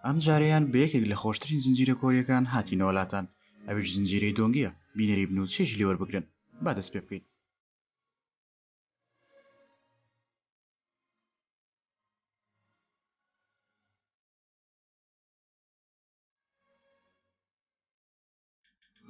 ئەم جارەیان بە یەکێک لە خۆشترین زنجیرە کۆریەکان هاتینەوە لاتان ئەویش زنجیرەی دۆنگیە بینەری بن و چێژی لێ وەربگرن با دەست پێ بکەین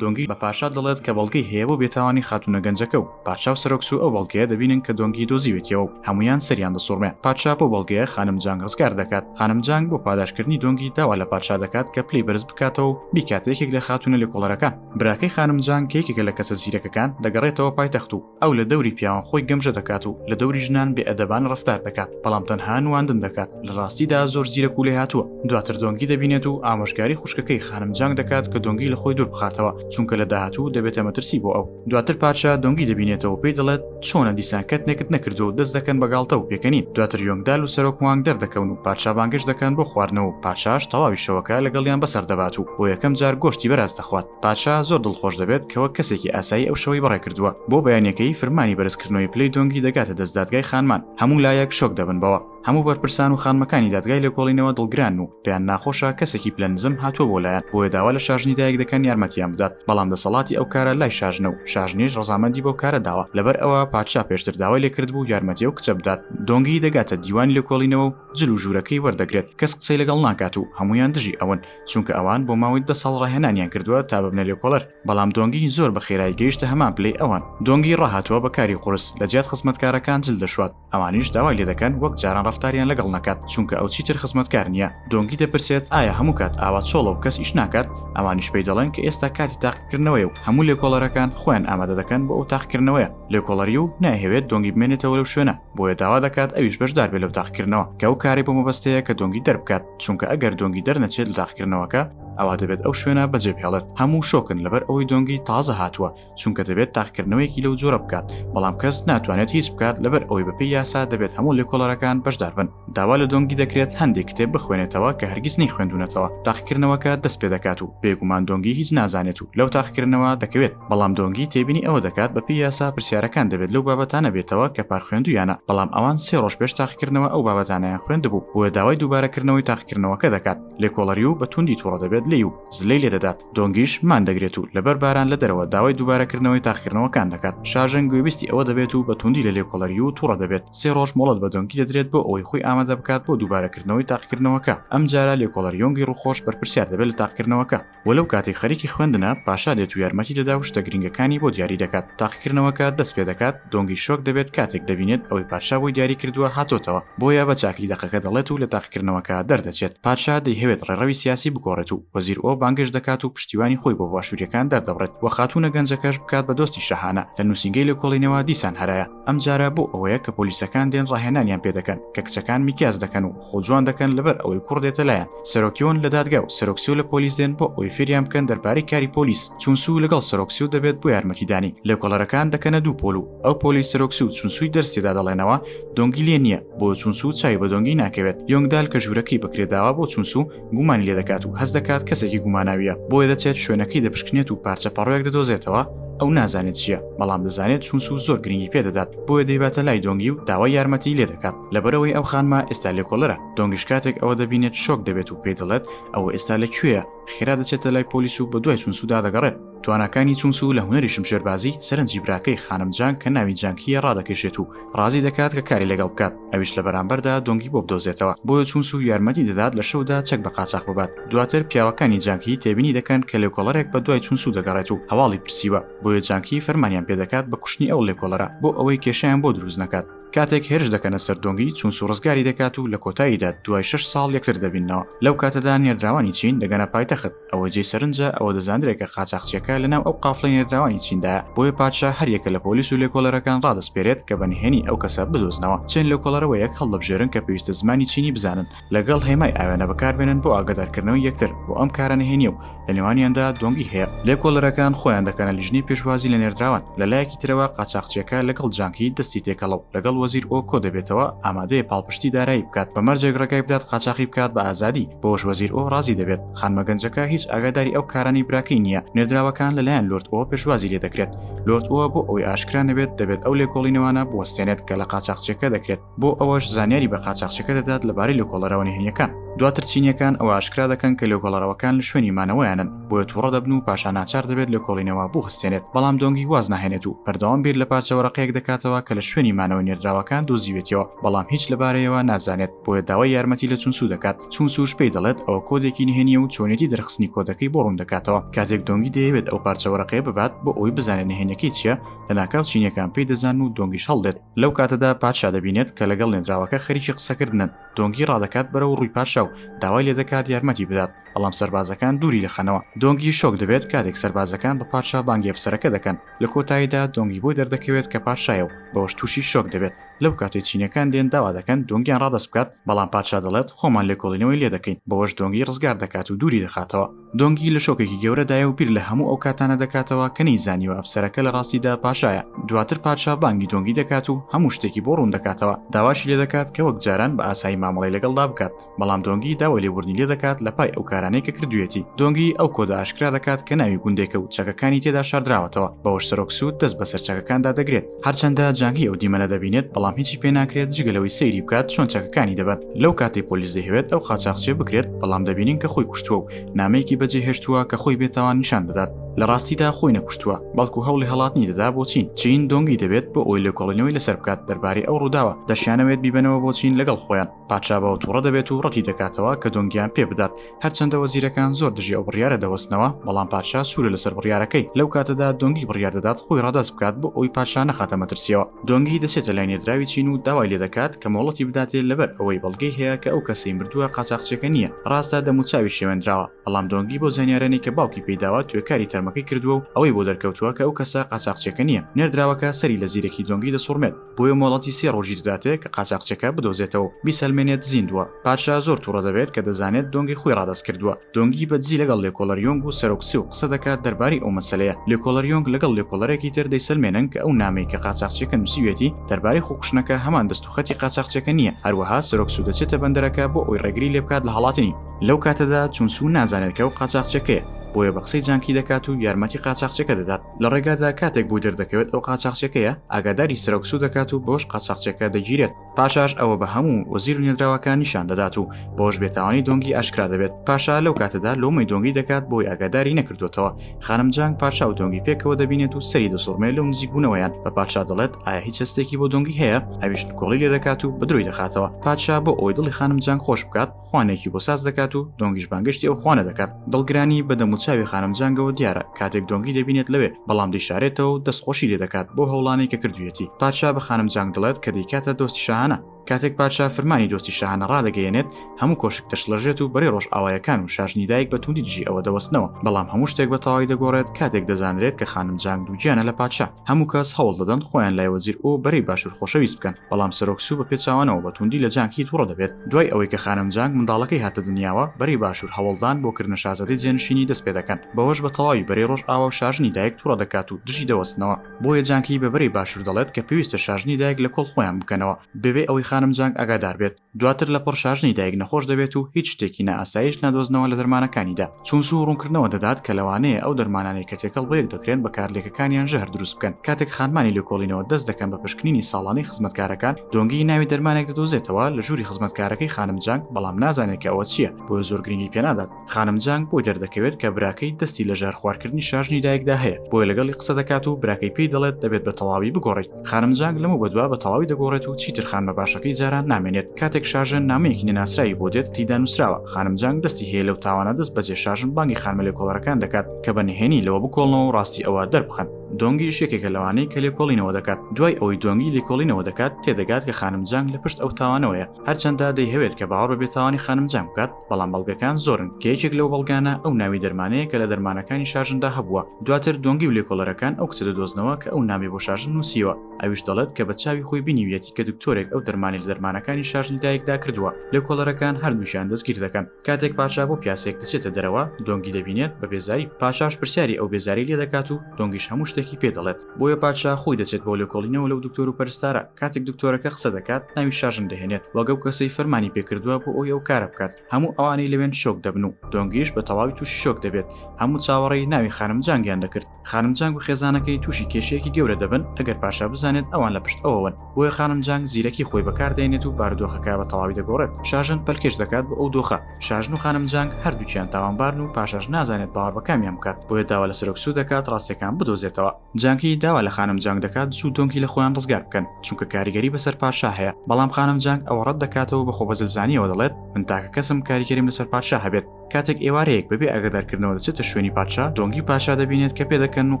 دۆنگی بە پاشا دەڵێت کە بەڵگەی هەیە بۆ بێتاوانی خاتونە گەنجەکە و پادشا و سەرۆک سوو ئەو بەڵگەیە دەبینن کە دۆنگی دۆزیوێتیەوە و هەموویان سەریان دەسوڕمێ پادشا بۆ بەڵگەیە خانم جانگ ڕزگار دەکات خانم جانگ بۆ پاداشکردنی دۆنگی داوا لە پادشا دەکات کە پلەی بەرز بکاتەوە و بیکاتە یەکێک لە خاتونە لێکۆڵەرەکان براکەی خانم جانگ کە یەکێکە لە کەسە زیرەکەکان دەگەڕێتەوە پایتەخت و ئەو لە دەوری پیاوان خۆی گەمژە دەکات و لە دەوری ژنان بێ ئەدەبان ڕفتار دەکات بەڵام تەنها نواندن دەکات لە ڕاستیدا زۆر زیرە کوولێ هاتووە دواتر دۆنگی دەبینێت و ئامۆژگاری خوشکەکەی خانم جانگ دەکات کە دۆنگی لە خۆی دوور بخاتەوە چونکە لە داهاتوو دەبێتە مەترسی بۆ ئەو دواتر پارچە دۆنگی دەبینێتەوە پێی دەڵێت چۆنە دیسان کەت نێکت نەکردو و دەست دەکەن بە گاڵتە و پێکەنین دواتر یۆنگدال و سەرۆک وانگ دەردەکەون و پارچابانگەش دەکەن بۆ خواردنەوە و پارچاش تەواوی شەوەکە لەگەڵیان بەسەر دەبات و بۆ یەکەم جار گۆشتی بەراز دەخوات پادشا زۆر دڵخۆش دەبێت کە وەک کەسێکی ئاسایی ئەو شەوەی بەڕێ کردووە بۆ بەیانەکەی فرمانی بەرزکردنەوەی پلەی دۆنگی دەگاتە دەست دادگای خانمان هەموو لایەک شۆک دەبن بەوە هەموو بەرپرسان و خانمەکانی دادگای لێکۆڵینەوە دڵگران و پێیان ناخۆشە کەسێکی پلە نزم هاتووە بۆ لایەن بۆیە داوا لە شاژنی دایک دەکەن یارمەتیان بدات بەڵام دەسەڵاتی ئەو کارە لای شاژنە و شاژنیش ڕزامەندی بەو کارە داوە لەبەر ئەوە پادشا پێشتر داوای لێکرد بوو یارمەتی ئەو کچە بدات دۆنگی دەگاتە دیوانی لێکۆڵینەوە و جل و ژوورەکەی وەردەگرێت کەس قسەی لەگەڵ ناکات و هەمویان دژی ئەون چونکە ئەوان بۆ ماوەی دە ساڵ ڕاهێنانیان کردووە تا ببنە لێکۆڵەر بەڵام دۆنگی زۆر بە خێرایی گەیشتە هەمان پلەی ئەوان دۆنگی ڕاهاتووە بە کاری قورس لە جیات خزمەتکارەکان جل دەشوات ئەوانیش داوای لێ دەکەن وەک جاران ڕفتاریان لەگەڵ نەکات چونکە ئەو چیتر خزمەتکار نییە دۆنگی دەپرسێت ئایا هەموو کات ئاوا چۆڵە و کەس ئیش ناکات ئەوانیش پێی دەڵێن کە ئێستا کاتی تاقیکردنەوەی و هەموو لێکۆڵەرەکان خۆیان ئامادە دەکەن بۆ ئەو تاقیکردنەوەیە لێکۆڵەری و نایهەوێت دۆنگی بمێنێتەوە لەو شوێنە بۆیە داوا دەکات ئەویش بەشدار بێت لەو تاقیکردنەوە کە ئەو کارەی بۆ مەبەستەیە کە دۆنگی دەربکات چونکە ئەگەر دۆنگی دەرنەچێت لە تاقیکردنەوەکە ئەوا دەبێت ئەو شوێنە بەجێ بهێڵێت هەموو شۆکن لەبەر ئەوەی دۆنگی تازە هاتووە چونکە دەبێت تاقیکردنەوەیەکی لەو جۆرە بکات بەڵام کەس ناتوانێت هیچ بکات لەبەر ئەوەی بەپێی یاسا دەبێت هەموو لێکۆڵەرەکان بەشدار بن داوا لە دۆنگی دەکرێت هەندێک کتێب بخوێنێتەوە کە هەرگیز نەی خوێندونەتەوە تاقیکردنەوەکە دەست پێ دەکات و بێگومان دۆنگی هیچ نازانێت و لەو تاقیکردنەوە دەکەوێت بەڵام دۆنگی تێبینی ئەوە دەکات بەپی یاسا پرسیارەکان دەبێت لەو بابەتانە بێتەوە کە پار خوێندویانە بەڵام ئەوان سێ ڕۆژ پێش تاقیکردنەوە ئەو بابەتانیان خوێندبوو بۆیە داوای دووبارەکردنەوەی تاقیکردنەوەکە دەکات لێکۆڵەری و بە توندی توڕە دەبێت لێی و زلەی لێ دەدات دۆنگیش مان دەگرێت و لەبەر باران لە دەرەوە داوای دووبارەکردنەوەی تاخکردنەوەکان دەکات شاژن گوێبیستی ئەوە دەبێت و بە توندی لە لێکۆڵەری و توڕە دەبێت سێ ڕۆژ مۆڵەت بە دۆنگی دەدرێت بۆ ئەوەی خۆی ئامادە بکات بۆ دووبارەکردنەوەی تاقکردنەوەکە ئەم جارە لێکۆڵەر یۆنگی ڕوخۆش بەرپرسیار دەبێت لە تاقکردنەوەکە و لەو کاتێک خەریکی خوێندنە پاشا دێت و یارمەتی دەدا و شتە گرنگەکانی بۆ دیاری دەکات تاقیکردنەوەکە دەست پێ دەکات دۆنگی شۆک دەبێت کاتێک دەبینێت ئەوەی پادشا بۆی دیاری کردووە هاتۆتەوە بۆیە بە چاکری دەقەکە دەڵێت و لە تاقیکردنەوەکە دەردەچێت پادشا دەیهەوێت ڕێڕەوی سیاسی بگۆڕێت و وەزیر ئۆ بانگێشت دەکات و پشتیوانی خۆی بۆ باشووریەکان دەردەبڕێت و خاتوونە گەنجەکەش بکات بە دۆستی شاهانە لە نووسینگەی لێکۆڵینەوە دیسان هەرایە ئەمجارە بۆ ئەوەیە کە پۆلیسەکان دێن ڕاهێنانیان پێدەکەن کە کچەکان میکیاج دەکەن و خۆ جوان دەکەن لەبەر ئەوەی کوڕ دێتە لایان سەرۆکیۆن لە دادگا و سەرۆکسیو لە پۆلیس دێن بۆ ئەوەی فێریان بکەن دەربارەی کاری پۆلیس چونسوو لەگەڵ سەرۆکسیو دەبێت بۆ یارمەتیدانی لێکۆڵەرەکان دەکەنە دوو پۆل و ئەو پۆلەی سەرۆکسیو چونسووی دەرس تێدا دەڵێنەوە دۆنگی لێ نییە بۆ چونسوو چاوی بە دۆنگی ناکەوێت یۆنگدال کە ژوورەکەی بەکرێ داوە بۆ چونسوو گومانی لێ دەکات و هەست دەکات کەسێکی گوماناویە بۆیە دەچێت شوێنەکەی دەپشکنێت و پارچە پەڕۆیەک دەدۆزێتەوە ئەو نازانێت چییە بەڵام دەزانێت چونسوو زۆر گرنگی پێدەدات بۆیە دەیباتە لای دۆنگی و داوای یارمەتی لێ دەکات لەبەرەوەی ئەو خانمە ئێستا لێکۆڵەرە دۆنگیش کاتێک ئەوە دەبینێت شۆک دەبێت و پێی دەڵێت ئەوە ئێستا لە کوێە خێرا دەچێتە لای پۆلیس و بە دوای چونسودا دەگەڕێت توانەکانی چونسو لە هوەری شمشێربازی سەرنجی براکەی خانم جان کە ناوی جانکیە ڕادەکێشێت و ڕازی دەکات کە کاری لەگەڵ بکات ئەویش لە بەرامبەردا دۆنگی بۆ بدۆزێتەوە بۆیە چونسو یارمەتی دەدات لە شەودا چەک بە قاچاخ ببات دواتر پیاوەکانی جانکی تێبینی دەکەن کە لێکۆڵەرێک بە دوای چونسو دەگەڕێت و هەواڵی پرسیوە بۆیە جانکی فەرمانیان پێدەکات بە کوشتنی ئەو لێکۆڵەرە بۆ ئەوەی کێشیان بۆ دروست نەکات کاتێک هێرش دەکەنە سەر دۆنگی چونسو ڕزگاری دەکات و لە کۆتاییدا دوای شش ساڵ یەکتر دەبینەوە لەو کاتەدا نێردراوانی چین دەگەنە پایتەخت ئەوە جێی سەرنجە ئەوە دەزاندرێکە قاچاخچیەکە لەناو ئەو قافڵی نێردراوانی چیندایە بۆیە پادشا هەریەکە لە پۆلیس و لێکۆڵەرەکان ڕادەسپێرێت کە بە نهێنی ئەو کەسە بدۆزنەوە چێن لێکۆڵەرەوە یەک هەڵدەبژێرن کە پێویستە زمانی چینی بزانن لەگەڵ هێمای ئاوێنە بەکاربێنن بۆ ئاگادارکردنەوەی یەکتر بۆ ئەم کارە نهێنیە و لە نێوانیاندا دۆنگی هەیە لێکۆڵەرەکان خۆیان دەکەنە لیژنەی پێشوازی لە نێردراوان لە لایەکی ترەوە قاچاخچیەکە لەگەڵ جانکی دەستی تێکەڵە و لەگەڵ وەزیر ئۆ کۆ دەبێتەوە ئامادەیە پاڵپشتی دارایی بکات بە مەرجێک ڕێگای بدات قاچاخی بکات بە ئازادی بۆش وەزیر ئۆ ڕازی دەبێت خانمە گەنجەکە هیچ ئاگاداری ئەو کارانی براکەی نییە نێردراوەکان لەلایەن لۆرد ئۆ پێشوازی لێ دەکرێت لۆرد ئەوە بۆ ئەوەی ئاشکرا نەبێت دەبێت ئەو لێکۆڵینەوانە بوەستێنێت کە لە قاچاخچیەکە دەکرێت بۆ ئەوەش زانیاری بە قاچاخچەکە دەدات لەبارەی لە کۆڵەرەوە نهێنیەکان دواتر چینیەکان ئەوە ئاشکرا دەکەن کە لە کۆڵەرەوەکان لە شوێنی مانەوەیانن بۆیە تووڕە دەبن و پاشا ناچار دەبێت لە کۆڵینەوە بوو هەستێنێت بەڵام دۆنگی واز ناهێنێت و بەردەوام بیر لە پارچەوەرەقەیەک دەکاتەوە کە لە شوێنی مانەوە نێردراوەکان دۆزیوێتەوە بەڵام هیچ لەبارەیەوە نازانێت بۆیە داوای یارمەتی لە چونسو دەکات چونسوش پێی دەڵێت ئەوە کۆدێکی نهێنیە و چۆنێتی دەرخستنی کۆدەکەی بۆ ڕوون دەکاتەوە کاتێک دۆنگی دەیەوێت ئەو پارچەوەرەقەیە ببات بۆ ئەوەی بزانێت نهێنەکەی چیە لە ناکاو چینیەکان پێی دەزان و دۆنگیش هەڵدێت لەو کاتەدا پادشا دەبینێت کە لەگەڵ نێدراوەکە خەریکی قسەکردنن دۆنگی ڕادەکات بەرەو ڕووی پادشا و داوای لێ دەکات یارمەتی بدات بەڵام سربازەکان دووری دەخەنەوە دۆنگی شۆک دەبێت کاتێک سربازەکان بە پادشا بانگی ئەفسەرەکە دەکەن لە کۆتاییدا دۆنگی بۆی دەردەکەوێت کە پادشایە و بەوەش تووشی شۆک دەبێت لەو کاتێ چینەکان دێن داوا دەکەن دۆنگیان ڕادەست بکات بەڵام پادشا دەڵێت خۆمان لێکۆڵینەوەی لێ دەکەین بەوەش دۆنگی ڕزگار دەکات و دووری دەخاتەوە دۆنگی لە شۆکێکی گەورەدایە و بیر لە هەموو ئەو کاتانە دەکاتەوە کە نەی زانیوە ئەفسەرەکە لە ڕاستیدا پاشایە دواتر پادشا بانگی دۆنگی دەکات و هەموو شتێکی بۆ ڕوون دەکاتەوە داواشی لێ دەکات کە وەک جاران بە ئاسایی مامەڵی لەگەڵدا بکات بەڵام دۆنگی داوای لێبوردنی لێ دەکات لە پای ئەو کارانەی کە کردوێتی دۆنگی ئەو کۆدە ئاشکرا دەکات کە ناوی گوندێکە و چەکەکانی تێدا شاردراوەتەوە بەوەش سەرۆک سوود دەست بەسەر چەکەکاندا دەگرێت هەرچەندە جانگی ئەو دیمەنە دەبینێت بەڵام هیچی پێ ناکرێت جگەلەوەی سەیری بکات چۆن چەکەکانی دەبات لەو کاتی پۆلیس دەهوێت ئەو قاچاخچێ بکرێت بەڵام دەبینین کە خۆی کوشتووە و نامەیەکی بەجێ هێشتووە کە خۆی بێتاوان نیشان دەدات لە ڕاستیدا خۆی نەکوشتووە بەڵکو هەوڵی هەڵاتنی دەدا بۆ چین چین دۆنگی دەبێت بۆ ئەوی لێکۆڵینەوەی لەسەر بکات دەربارەی ئەو ڕووداوە دەشیانەوێت بیبەنەوە بۆ چین لەگەڵ خۆیان پادشا بەوە تووڕە دەبێت و ڕەتی دەکاتەوە کە دۆنگیان پێ بدات هەرچەندە وەزیرەکان زۆر دژی ئەو بڕیارە دەوەستنەوە بەڵام پادشا سوورە لەسەر بڕیارەکەی لەو کاتەدا دۆنگی بڕیار دەدات خۆی ڕاداست بکات بۆ ئەوی پادشا نەخاتە مەترسیەوە دۆنگی دەچێتە لای نێدراوی چین و داوای لێ دەکات کە مۆڵەتی بداتێ لەبەر ئەوەی بەڵگەی هەیە کە ئەو کەسەی مردووە قاچاخچێکە نییە ڕاستە دەموچاوی شێوێنراوە بەڵام دۆنگی بۆ زانیارانی کە باوکی پێیداوە توێکاری تەرمەکەی کردووە و ئەوەی بۆ دەرکەوتووە کە ئەو کەسە قاچاخچێکە نییە نێردراوەکە سەری لە زیرەکی دۆنگی دەسوڕمێت بۆیە مۆڵەتی سێ ڕۆژی دەداتێ کە قاچاقچەکە بدۆزێتەوە و بیسەلمێنێت زیندووە پادشا زۆر توڕە دەبێت کە دەزانێت دۆنگی خۆی ڕادەست کردووە دۆنگی بە دزی لەگەڵ لێکۆڵەر یۆنگ و سەرۆک سیو قسە دەکات دەربارەی ئەو مەسەلەیە لێکۆڵەر یۆنگ لەگەڵ لێکۆڵەرێکی تر دەیسەلمێنن کە ئەو نامەی کە قاچاقچیەکە نووسیوێتی دەربارەی خۆکوشتنەکە هەمان دەست و خەتی قاچاقچیەکە نییە هەروەها سەرۆک سوو دەچێتە بەندەرەکە بۆ ئەوی ڕێگری لێ بکات لە هەڵاتنی لەو کاتەدا چون سوو نازانێت کە ئەو قاچاقچیەکەیە بۆیە بە قسەی جانکی دەکات و یارمەتی قاچاقچیەکە دەدات. لە ڕێگادا کاتێک بۆ دەردەکەوێت ئەو قاچاخچەکەیە ئاگاداری سرەوکسو دەکات و بۆش قاچاخچەکە دەگیرێت پاشاش ئەوە بە هەموو وەزیر و نێدراوەکان نیشان دەدات و بۆش بێتاوانی دۆنگی ئاشکرا دەبێت پاشا لەو کاتەدا لۆمەی دۆنگی دەکات بۆی ئاگاداری نەکردوێتەوە خانم جانگ پاشا و دۆنگی پێکەوە دەبینێت و سەری دەسوڕمێ لەو نزیک بوونەوەیان بە پادشا دەڵێت ئایا هیچ هەستێکی بۆ دۆنگی هەیە ئەویش کۆڵی لێ دەکات و بەدرۆی دەخاتەوە پادشا بۆ ئەوەی دڵی خانم جانگ خۆش بکات خوانێکی بۆ ساز دەکات و دۆنگیش بانگشتی ئەو خوانە دەکات دڵگرانی بە دەموچاوی خانم جانگەوە دیارە کاتێک دۆنگی دەبینێت لەوێ بەڵام دەیشارێتەوە و دەستخۆشی لێ دەکات بۆ هەوڵانەی کە کردویەتی پادشا بە خانم جانگ دڵێت کە دەیکاتە دۆستی شاهانە کاتێک پادشا فرمانی دۆستی شاهانە ڕادەگەیەنێت هەموو کۆشک دەشڵەژێت و بەرەی ڕۆژ ئاوایەکان و شاژنی دایک بە توندی دژی ئەوە دەوەستنەوە بەڵام هەموو شتێک بە تەواوی دەگۆڕێت کاتێک دەزانرێت کە خانم جانگ دووگیانە لە پادشا هەموو کەس هەوڵ دەدەن خۆیان لای وەزیر ئۆ بەرەی باشوور خۆشەویست بکەن بەڵام سەرۆک سوو بە پێچاوانەوە بە توندی لە جانگی توڕە دەبێت دوای ئەوەی کە خانم جانگ منداڵەکەی هاتە دنیاوە بەرەی باشوور هەوڵدان بۆ کردنە شازادەی جێنشینی دەست پێ دەکەن بەوەش بە تەواوی بەرەی ڕۆژئاوا و شاژنی دایک توڕە دەکات و دژی دەوەستنەوە بۆیە جانگی بە بەرەی باشوور دەڵێت کە پێویستە شاژنی دایک لە کۆڵ خۆیان بکەنەوە بەبێ ئەوەی خانم جانگ ئاگادار بێت. دواتر لە پڕ شاژنی دایک نەخۆش دەبێت و هیچ شتێکی نائاساییش نادۆزنەوە لە دەرمانەکانیدا، چونسو ڕوونکردنەوە دەدات کە لەوانەیە ئەو دەرمانانەی کە تێکەڵ بەیەک دەکرێن بە کارلێکەکانیان ژەهر دروست بکەن، کاتێک خانمانی لێکۆڵینەوە دەست دەکەن بە پشکنینی ساڵانەی خزمەتکارەکان، دۆنگی ناوی دەرمانێک دەدۆزێتەوە لە ژووری خزمەتکارەکەی خانم جانگ، بەڵام نازانێت کە ئەوە چییە، بۆیە زۆر گرنگی پێنادات. خانم جانگ بۆی دەردەکەوێت کە براکەی دەستی لە ژار خوارکردنی شاژنی دایکدا هەیە بۆیە لەگەڵی قسە دەکات و براکەی پێی دەڵێت دەبێت بە تەواوی بگۆڕیت خانم جانگ لەمە بەدوا بە تەواوی دەگۆڕێت و چیتر خانمە باشەکەی جاران نامێنێت کاتێک شاژن نامەیەکی نەناسراوی بۆ دێت تیدا نووسراوە خانم جانگ دەستی هەیە لەو تاوانە دەست بەجێ شاژن بانگی خانمە لێکۆڵەرەکان دەکات کە بە نهێنی لەوە بکۆڵنەوە و ڕاستی ئەوە دەربخەن دۆنگیش یەکێکە لەوانەی کە لێکۆڵینەوە دەکات دوای ئەوەی دۆنگی لێکۆڵینەوە دەکات تێدەگات کە خانم جانگ لە پشت ئەو تاوانەوەیە هەرچەندە دەیهەوێت کە باوەڕ بە بێتاوانی خانم جانگ بکات بەڵام بەڵگەکان زۆرن کە یەکێک لەو بەڵگانە ئەو ناوی دەرمانەیە کە لە دەرمانەکانی شارژندا هەبووە دواتر دۆنگی و لێکۆڵەرەکان ئەو کچە دەدۆزنەوە کە ئەو نامی بۆ شارژن نووسیوە ئەویش دەڵێت کە بە چاوی خۆی بینیویەتی کە دکتۆرێک ئەو دەرمانی لە دەرمانەکانی شارژنی دایکدا کردووە لێکۆڵەرەکان هەردووکیان دەستگیر دەکەن کاتێک پاشا بۆ پیاسێک دەچێتە دەرەوە دۆنگی دەبینێت بە بێزاری پاشاش پرسیاری ئەو بێزاری لێ دەکات و دۆنگیش هەموو شتێکی پێ دەڵێت بۆیە پادشا خۆی دەچێت بۆ لێکۆڵینەوە لەو دکتۆر و پەرستارە کاتێک دکتۆرەکە قسە دەکات ناوی شاژن دەهێنێت وەگە و کەسەی فەرمانی پێکردووە بۆ ئەوی ئەو کارە بکات هەموو ئەوانەی لەوێن شۆک دەبن و دۆنگیش بە تەواوی تووشی شۆک دەبێت هەموو چاوەڕێی ناوی خانم جانگیان دەکرد خانم جانگ و خێزانەکەی تووشی کێشەیەکی گەورە دەبن ئەگەر پاشا بزانێت ئەوان لە پشت ئەوەوەن بۆیە خانم جانگ زیرەکی خۆی بەکاردێنێت و بارودۆخەکە بە تەواوی دەگۆڕێت شاژن پەلکێش دەکات بۆ ئەو دۆخە شاژن و خانم جانگ هەردووکیان تاوانبارن و پاشاش نازانێت باوەڕ بە کامیان بکات بۆیە داوا لە سەرۆک سوو دەکات ڕاستیەکان بدۆزێتەوە جانگی داوا لە خانم جانگ دەکات سوو دۆنگی لە خۆیان ڕزگار بکەن چونکە کاریگەری بەسەر پادشا هەیە بەڵام خانم جانگ ئەوە ڕەت دەکاتەوە بە خۆبەزلزانیەوە دەڵێت من تاکە کەسم کاریگەریم لەسەر پادشا هەبێت کاتێک ئێوارەیەک بەبێ ئاگادارکردنەوە دەچێتە شوێنی پادشا دۆنگی پاشا دەبینێت کە پێدەکەن و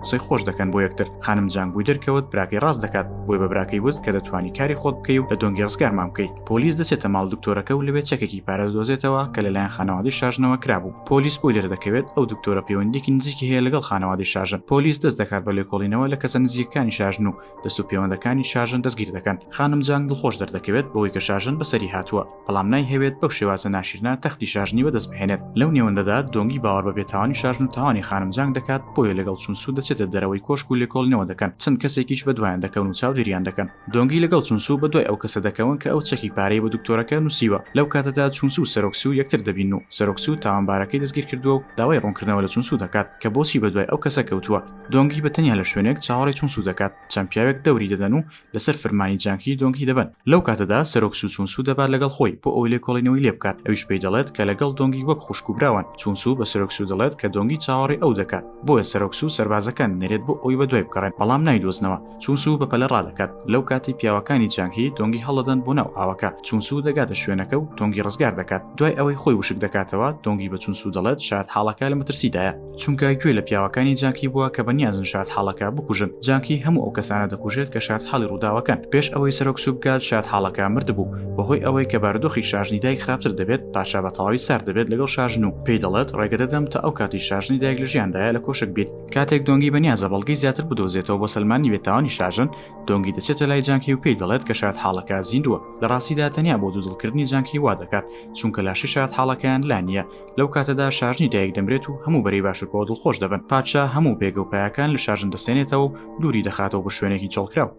قسەی خۆش دەکەن بۆ یەکتر خانم جان بووی دەرکەوت براکەی ڕاست دەکات بۆی بە براکەی وت کە دەتوانی کاری خۆت بکەی و لە دۆنگی ڕزگارمان بکەی پۆلیس دەچێتە ماڵ دکتۆرەکە و لەوێ چەکێکی پارە دەدۆزێتەوە کە لەلایەن خانەوادەی شاژنەوە کرابوو پۆلیس بۆی دەردەکەوێت ئەو دکتۆرە پەیوەندێکی نزیکی هەیە لەگەڵ خانەوادەی شاژن پۆلیس دەست دەکات بە لێکۆڵینەوە لە کەسە نزیکەکانی شاژن و دەست و پێوەندەکانی شاژن دەستگیر دەکەن خانم جان دڵخۆش دەردەکەوێت بەوەی کە شاژن بەسەری هاتووە بەڵام نایهەوێت بەو شێوازە ناشیرنە تەختی شاژنی بەدەست بهێنێت، لەو نێوەندەدا دۆنگی باوەڕ بە بێتاوانی شاژن و تاوانی خانم جانگ دەکات، بۆیە لەگەڵ چون سو دەچێتە دەرەوەی کۆشک و لێکۆڵینەوە دەکەن، چەند کەسێکیش بەدوایان دەکەون و چاودێریان دەکەن. دۆنگی لەگەڵ چون سو بەدوای ئەو کەسە دەکەون کە ئەو چەکی پارەی بە دکتۆرەکە نووسیوە، لەو کاتەدا چون سو و سەرۆک سو یەکتر دەبینن و سەرۆک سو تاوانبارەکەی دەستگیرکردووە و داوای ڕوونکردنەوە لە چون سو دەکات کە بۆچی بەدوای ئەو کەسە کەوتووە، دۆنگی بەتەنیا لە شوێنێک چاوەڕێی چون سو دەکات، چەند پیاوێک دەوری دەدەن و لەسەر فرمانی جانگهی دۆنگهی دەبەن، لەو کاتەدا سەرۆک سو چونسو دەبات لەگەڵ خۆی بۆ ئەوەی لێکۆڵینەوەی لێ بکات، ئەویش پێی دەڵێت کە لەگەڵ دۆنگی وەک خوشک و براوان، چونسو بە سەرۆک سو دەڵێت کە دۆنگی چاوەڕێی ئەو دەکات، بۆیە سەرۆک سو سەربازەکان دەنێرێت بۆ ئەوەی بەدوای بگەڕێن، بەڵام نایدۆزنەوە، چونسو بە پەلە ڕادەکات، لەو کاتەی پیاوەکانی جانگهی دۆنگی هەڵدەدەن بۆ ناو ئاوەکە، چونسو دەگاتە شوێنەکە و دۆنگی ڕزگار دەکات، دوای ئەوەی خۆی وشک دەکاتەوە، دۆنگی بە چونسو دەڵێت شایەتحاڵەکە لە مەترسیدایە. چونکە گوێ لە پیاوەکانی جانکی بووە کە بەنیازن شادحاڵەکە بکوژن جانکی هەموو ئەو کەسانە دەکوژێت کە شادحاڵی ڕووداوەکەن پێش ئەوەی سەرۆک سوبگات شادحاڵەکە مردبوو بەهۆی ئەوەی کە بارودۆخی شاژنی دایک خراپتر دەبێت پاشا بە تەواوی سارد دەبێت لەگەڵ شاژن و پێی دەڵێت ڕێگە دەدەم تا ئەو کاتی شاژنی دایک لە ژیاندایە لە کۆشک بیت کاتێک دۆنگی بەنیازە بەڵگەی زیاتر بدۆزێتەوە بۆ سەلماندنی بێ تاوانی شاژن دۆنگی دەچێتە لای جانکی و پێی دەڵێت کە شادحاڵەکە زیندووە لە ڕاستیدا تەنیا بۆ دوودڵکردنی جانکی وا دەکات چونکە لاشەی شادحاڵەکەیان لا نییە لەو کاتەدا شارژنی دایک دەمرێت و هەموو بەری باشوورەوە دڵخۆش دەبن پادشا هەموو پێگە و پایەکان لە شارژن دەستێنێتەوە و دووری دەخاتەوە بە شوێنێکی چۆڵکراو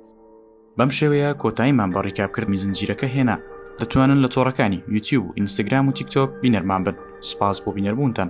بەم شێوەیە کۆتاییمان بە ڕیکاپکردنی زنجیرەکە هێنا دەتوانن لە تۆڕەکانی یوتیوب و ئینستاگرام و تیکتۆک بینەرمان بن سپاس بۆ بینەربوونتان